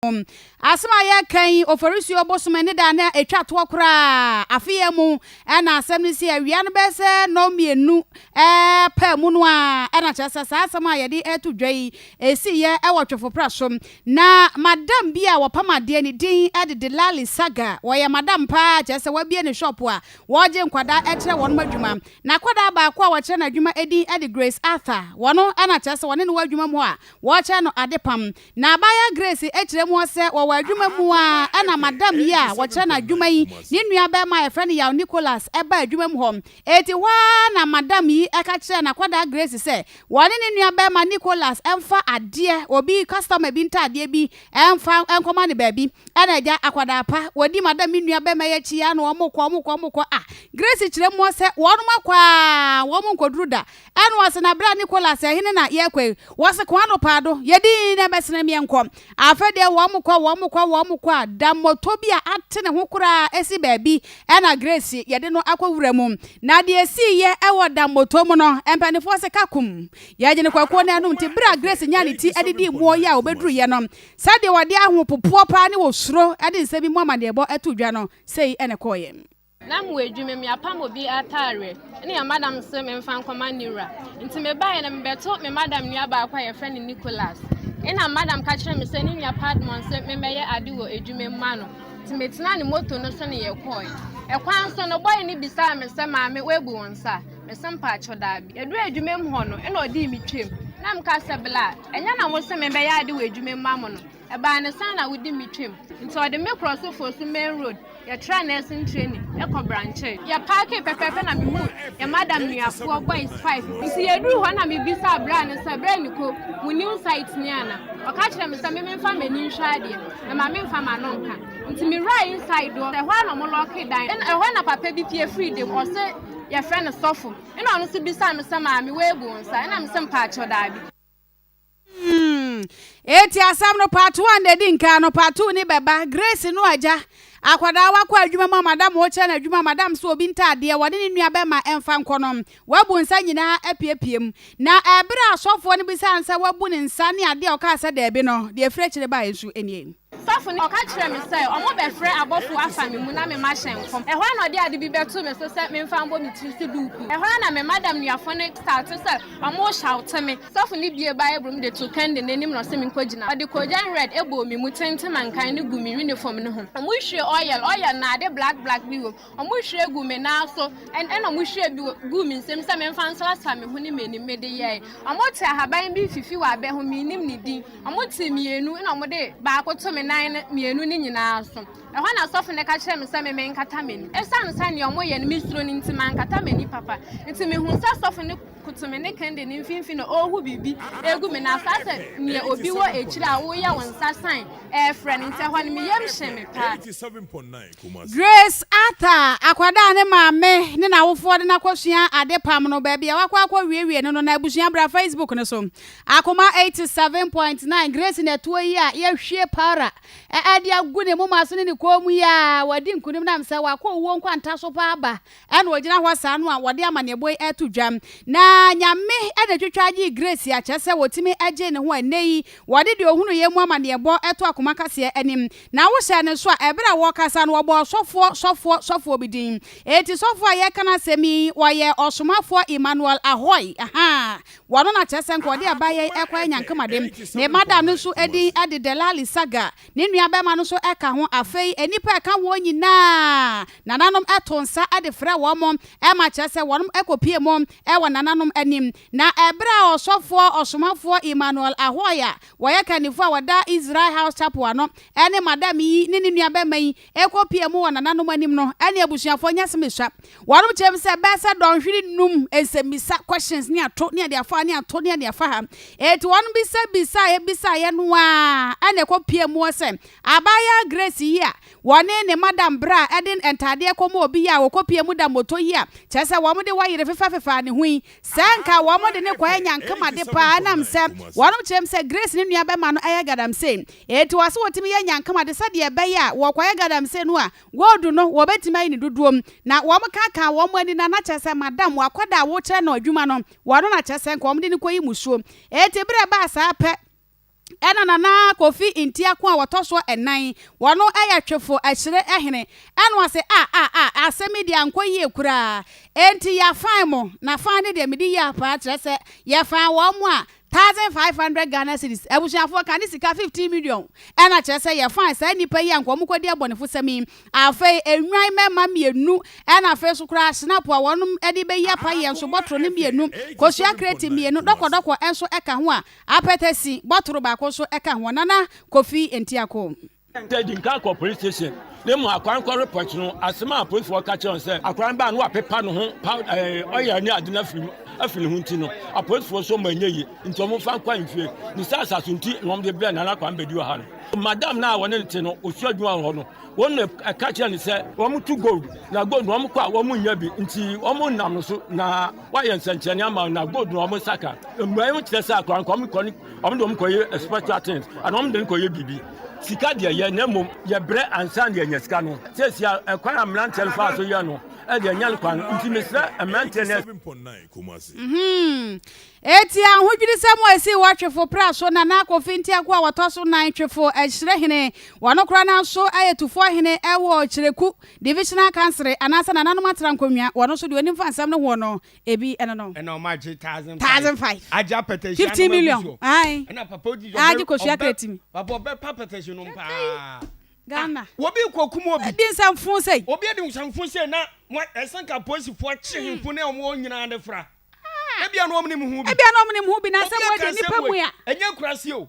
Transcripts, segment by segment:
ho. Asɛm a yɛreka yi, Oforisuo bosome ne da no a ɛtwa toɔ koraa afe yi mu na asɛm no si. Awia no bɛyɛ sɛ nnɔnmienu pɛ mu no ara na kyerɛ sɛ saa asɛm a yɛde reto dwa yi siiɛ wɔ Twefoprɛ so. Na madam bi a wɔpam adeɛ ne din de Delali Saga. Ɔyɛ madam pa ara kyerɛ sɛ wabue ne shɔpo a wɔregye nkwadaa kyerɛ wɔnom adwuma. N'akwadaa baako a wɔkyerɛ no adwuma din de Grace Arthur. Ɔno na kyerɛ sɛ wɔne no wɔ adwuma mu hɔ a wɔkyerɛ no adepam. Na abaayewa Grace kyerɛ mu sɛ, Wɔ wɔn adwuma mu ara na madam yi a wɔkyerɛ no adwuma yi ne nuabarima a wɔfrɛ no Yaw Nicholas baa adwuma mu hɔ. Enti hɔ ara na madam yi ka kyerɛɛ n'akwadaa Grace sɛ wɔne ne nuabarima Nicholas mfa adeɛ, obi customer bi ntadeɛ bi, mfa nkɔma no baabi. Ɛna agya akwadaa pa, wɔdi madam yi nuabarima yi akyi ara na wɔkɔ, wɔkɔ, wɔkɔ a Grace kyerɛ mu sɛ wɔnom akɔ ara wɔnkɔduru da Ɛno ase na bere a Nicholas, Ɛhe ne na yɛrekɔ yi? Wɔse kwan no paa do, yɛ dinn na bɛsene me nkɔ. Afei deɛ wɔkɔ, wɔkɔ, wɔkɔ a, da moto bi a ate ne ho koraa si baabi, ɛna Grace, yɛde no akɔ wura mu. Na deɛ ɛsiiɛ wɔ da moto mu no, mpaninfoɔ se ka kum. Yɛgyene kwakuo no anom nti, bere a Grace nyaa ne ti de dii mmoɔ yi a wɔbɛduruiɛ no, sɛdeɛ ɔde ahopopoɔ paa ne osuro de nsɛm bi mu amanneɛbɔ too dwa no, sei na ɛkɔeɛ. Na mowɔ adwuma mu, yɛapam obi ataareɛ ne yɛn madam se memfa nkɔma ne wura. Nti mebaeɛ no, mebɛto me madam nua baako a yɛfrɛ no Nicholas. Ɛnna me madam ka kyerɛɛ me sɛ ne nua Padmore se memmɛyɛ ade wɔ adwuma mu mma no. Nti metenaa ne moto no so ne yɛkɔɔe. Ɛkwan so no, bɔe no bisaa me sɛ, Maame, woabu wo nsa? Mese, Mpakyɛ, daabi. Yɛduruu adwuma mu hɔ no, ɛnna ɔdii me twam, na meka sɛ, Bla, ɛnyɛ na mose memmɛyɛ ade wɔ adwuma mu mma mo no? Ɛbaa no saa na wodi me twam. Nti ɔde me kɔɔ so foro so main road, yɛtraa nursing training kɔ Brankye. Yɛpaakee pɛpɛɛpɛ na mehuu yɛn madam nuafoɔ boys five. Nti yɛduruu hɔ na mebisaa braa no sɛ, Bra Niko, mo new site nie ana? Ɔka kyerɛɛ me sɛ me memfa m'ani nhwɛ adeɛ, na ma memfa m'ano nka. Nti mewuraa inside hɔ, ɛhɔ ara na wɔlɔɔkee dan no. Ɛhɔ ara na papa bi pue firii dam, ɔse yɛfrɛ no Sɔfo. Ɛna ɔno nso bisaa me sɛ, Maame, woabu wo nsa? Ɛna mese, Mpaakyɛw, daabi. Hmm. Eti asɛm no pato a na edi nkan no pato ni bɛba. Grace no agya. Akwadaa wakɔ adwuma mu a madam ɔkyerɛ no adwuma madam so obi ntaadeɛ wɔne ne nua bɛma ɛmfa nkɔ no. Wabu nsa nyinaa apiepie mu. Na ɛberɛ a asɔfoɔ no bisaa no sɛ wabu ne nsa ne adeɛ a ɔkaa sɛ daabi no, deɛ ɛfiri akyire baeɛ nso nie. Sɔfo no ka kyerɛɛ me sɛ wɔbɛfrɛ abɔfo afa me mu na me mma hyɛ nkɔm. Ɛhɔ ara na ɔde ade bi bɛtoo me so sɛ memfa mmɔ me tiri so duukuu. Ɛhɔ ara na me madam nuafo no startee sɛ wɔrehyawte me. Sɔfo no buee Bible mu de too Candy no anim na ɔse minkogyina. Ɔde koogyan red bɔɔ me mu tenten ma nkan no guu me unifom no ho. Wɔhwiee oil, oil no na ade black black bi wom. Wɔhwiee guu me nan so na wɔhwiee bi guu me nsam sɛ memfa nsrasra me ho ne m'anim. Mede yɛe. Wɔtee ahaban bi fifi wɔ abɛ ho, minnim ne din. Wɔtee mmienu na wɔde baako too me nan no mmienu no nyinaa so. Ɛhɔ na sɔfo no ka kyerɛɛ me sɛ meme nkata m'ani. Esiane sɛ nea wɔyɛ no misuro no nti, mankata m'ani papa. Enti mihuu sɛ sɔfo no koto me ne kɛnde no mfinimfini na ɔrehu biribi agu me nan so ayɛ sɛ nea obi wɔ akyiri a woyɛ wo nsa sign refrɛ no. Enti ɛhɔ no me yam hyee me paa. Grace Arthur, akwadaa a ne maame ne n'awofoɔ de no akɔsua adepam no, baabi a wakɔ akɔwiewie no no, na abusua bra Facebook no so. Akoma 87.9, Grace Natuo yi a yɛahwie powder de agu ne moma so ne ne kɔn mu yi a, wadi nkunim nam sɛ wakɔ owuo nkwanta so paa aba Ɛna ogyina hɔ saa no a wɔde amanneɛbɔ yi reto dwa. Na Nyame na etwitwaa gyee Grace a kyerɛ sɛ wɔtumi gyee ne ho a ɛnnɛ yi wɔde deɛ ɔhunuiɛ mu amanneɛbɔ to akoma kaseɛ anim. Na wohyɛɛ ne so a ɛberɛ a wɔrekasa no wɔbɔɔ sɔfoɔ sɔfoɔ sɔfoɔ bi din. Enti sɔfoɔ a yɛreka n'asɛm yi ɔyɛ ɔsomafoɔ Emmanuel Ahoy ahaa wɔno na kyerɛ sɛ nka ɔde abaayɛ yi rekɔyɛ nyankamade. Ne madam no nso din de Delali Saga. Ne nuabarima no nso ka ho. Afei nnipa a ɛka wɔn nyinaa nananom to nsa de frɛ wɔn ma kyerɛ sɛ wɔkɔpue mu wɔ nananom anim. Na bere a ɔsɔfoɔ ɔsomafoɔ Emmanuel Ahoy a wɔyɛ kannifo a wɔda Israel House Chapel ano ne madam yi ne ne nuabarima yi rekɔ pia mu wɔ nananom anim no ne abusuafo nyɛ asɛm a esua. Wɔnom kyerɛ mu sɛ ɛbɛyɛ sɛ dɔnhwere nnum nsɛmmisa, questions, ne ato, ne ade afa ha, ne ato, ne ade afa ha. Enti wɔnom bisabisaeɛ bisaeɛ no ara na ɛkɔ pia mu hɔ sɛ abaayaa Grace yi a wɔne ne madam berɛ a ɛde ntaadeɛ kɔma obi yi a wɔkɔ pia mu da mmɔtɔ yi a kyerɛ sɛ wɔn de wɔ yere fefɛfefɛ a ne ho yi Sɛ anka wɔde no kɔɛ nyankema de paa ɛnam sɛ wɔnom kyerɛm sɛ Grace ne nua bɛma no ɛyɛ galamsey. Enti wɔse wɔtumi yɛ nyankema de sɛdeɛ ɛbɛyɛ a wɔkɔyɛ galamsey no a gold no wɔbɛtumi ayi ne dodoɔm. Na wɔn ka kaa wɔn ani na na kyerɛ sɛ madam wakɔda a wokyerɛ no adwuma no wɔno na kyerɛ sɛ nka wɔde no kɔyi musuo. Enti berɛ baa saa pɛ. ɛna Nana Kofi Ntiako a wɔtɔ so ɛnan, wɔno ɛyɛ Twefo Akyire Hene, ɛno ase a a a asɛm yi deɛ ankɔ yie koraa, enti yɛafan mo, na fan no deɛ medi yea paa, kyerɛ sɛ yɛfan wɔn mo a, thousand five hundred Ghana cedis, abusuafoɔ ka ne sika fifteen million, ɛna kyerɛ sɛ yɛfan saa nnipa yi a nka wɔn kɔdi abɔnefosɛm yi, afei Nnwan mmɛma mmienu, ɛna afei nso koraa Shinap a wɔnom ɛde bɛyi apa yɛn nso bɔtoro no mmienu, Kosua kreti mmienu, dɔkɔdɔkɔ nso ɛka ho a Apɛtɛsi bɔtoro baako nso ka ho, Nana Kofi Ntiakoom. Sɛ di nkan kɔ polis station na emu akoa no kɔ repɔt no, asɛm a apolisfoɔ ka kyerɛ no sɛ akoa no baa na wapepa ne ho powder, eh, oil ne ade no afiri mu afi ne ho nti no, apolisfoɔ nso ma ɛnyɛ yie nti wɔn fa nkɔ ahemfie. Ne saa asaso nti na wɔn de brɛ Nana Kwame Bedi wɔ ha no. Madam no a wɔne no te no, osua adwuma wɔ hɔ no, wɔn na ɛka kyerɛ no sɛ wɔn tu gold, na gold no wɔn kɔ a wɔn nnya bi nti wɔn nam no so na. Wɔayɛ nsɛnkyerɛnne ama wɔn na gold na wɔn nsa ka. Mmuae ho kyerɛ sɛ akora nka wɔn kɔ ne wɔn de wɔn kɔyɛ spiritual things anaa wɔn de no kɔyɛ biribi. Sika deɛ yɛ na mmom yɛbrɛ ansa na yɛanya sika no. Seesei a ɛkwan a mmeranteɛ no faa so yɛ no deɛ ɛnyɛ no kwa no nti mesrɛ mmeranteɛ na ɛsɛ Enti ahodwirisɛm a esii wɔ Twefo Pra so na na Kofi Ntiaku a wɔtɔ so nan Twefo Ahyirehene, wɔn kora no nso yɛ Tufohene wɔ Kyereku Divisional Council anaasɛ Nananom Atra Nkonnwa, wɔno nso deɛ ɔnim fa nsɛm no hoɔ no, ebi ɛno no. Ɛna ɔmo agye thousand five. Thousand five. Agye apɛtɛsi anoma gu soɔ. Fifteen million, ae. Ɛna papa odi ɔbɛ. Agye kosua kretimi. Papa ɔbɛ pa apɛtɛsi nom paa. Ghana. Ah, obi rekɔ kum obi. Adi nsɛmfo sei. Obi adi nsɛmfo sei na, mo, ɛsɛ nka apolisifo akye hemfo ne ɔmo nyinaa de fra. Ebia na ɔmo nim ho bi. Ebia na ɔmo nim ho bi, na asɛm wei deɛ, nipa mu a. Ɛnyɛ nkuraase o.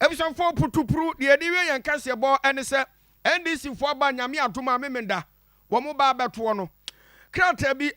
Abusuafoɔ putupru, deɛ yɛde wie yɛn kaseɛbɔ ne sɛ NDC foɔ aba Nyame adom a Memenda wɔn ba abɛtoɔ no krataa bi